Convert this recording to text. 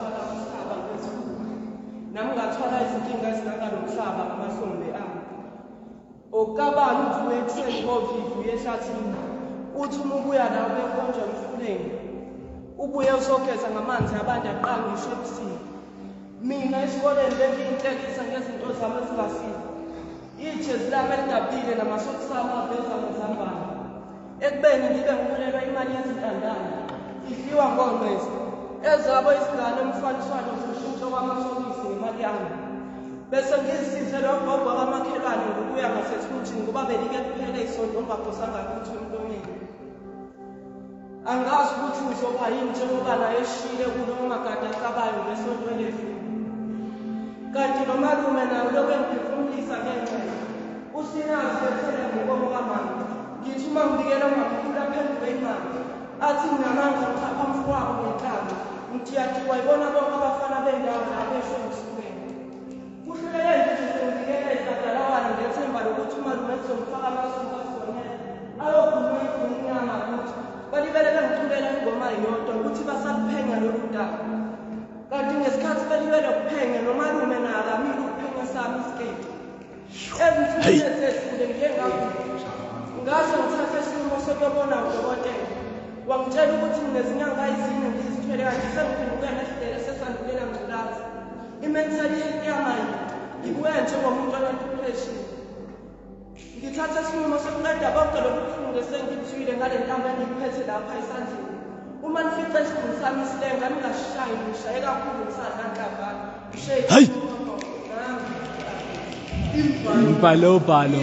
Umhlaba ngezikhulu. Nami ngathwala izinkinga ezingaka nomhlaba ngamahlombe ami. Okukabani uvuke ekuseni ngovivu yehlathini. Uthi uma ubuya la ubekhonjwa emfuleni. Ubuye usogeza ngamanzi abantu aqanga ngisho ebusuku. Mina esikoleni bengiyinhlekisa ngezinto zami ezingasile. Ijezi lami elidabile namasokisami aveza ngezambane. ekubeni ngibe ngiholelwa imali yezintandane idliwa ngonqesi ezabo izingane umfaniswano zishintsho kwamasokisi ngemali yami bese ngizisize lo gogo kamakhelwane ngokuya ngasesikuthini ngoba belike kuphela isonto ongaphosanga lutho emlonyeni angazi ukuthi ngizoba yini njengoba naye eshile kulo magada acabayo ngesonto eledlule kanti nomalume naye lokhu engiphefumulisa ngenxa usinazi ethele ngokomo kamama Ngithi uma ngibikela umamkhulu aphenduke imali athi nginamandla ngithapha mfowabo ngenhlanhla ngithi uyadikwa yibona bonke abafana bendawo lapho esho emsukweni kuhluleke ngithi sengibikelele kadalawane ngethemba lokuthi umalume kuzomfaka amasuku afonele ayokhuluma ikhulumnyama ukuthi balibele bengiculela ingoma yodwa ukuthi basakuphenya lolu daba kanti ngesikhathi belibele kuphenya nomalume naye akamile ukuphenya sami isiketi Ezithile sesidlule ngike ngakuthi ngase ngithathe isinqumo sokuyobona udokotela. Wangitshela ukuthi nginezinyanga ezine ngizithwele kanti sengiphenduke nesidele sesandulela ngculaza. I-mentality yamanje ngibuye njengomuntu onedepression. Ngithathe isinqumo sokuqeda konke lokufunde sengithwile ngale ntambo engiyiphethe lapha esandleni. Uma nifice isidumbu sami isilenga ningasishayi ngishaye kakhulu ngisadla nhlabana. hayi umbhalo ubhalo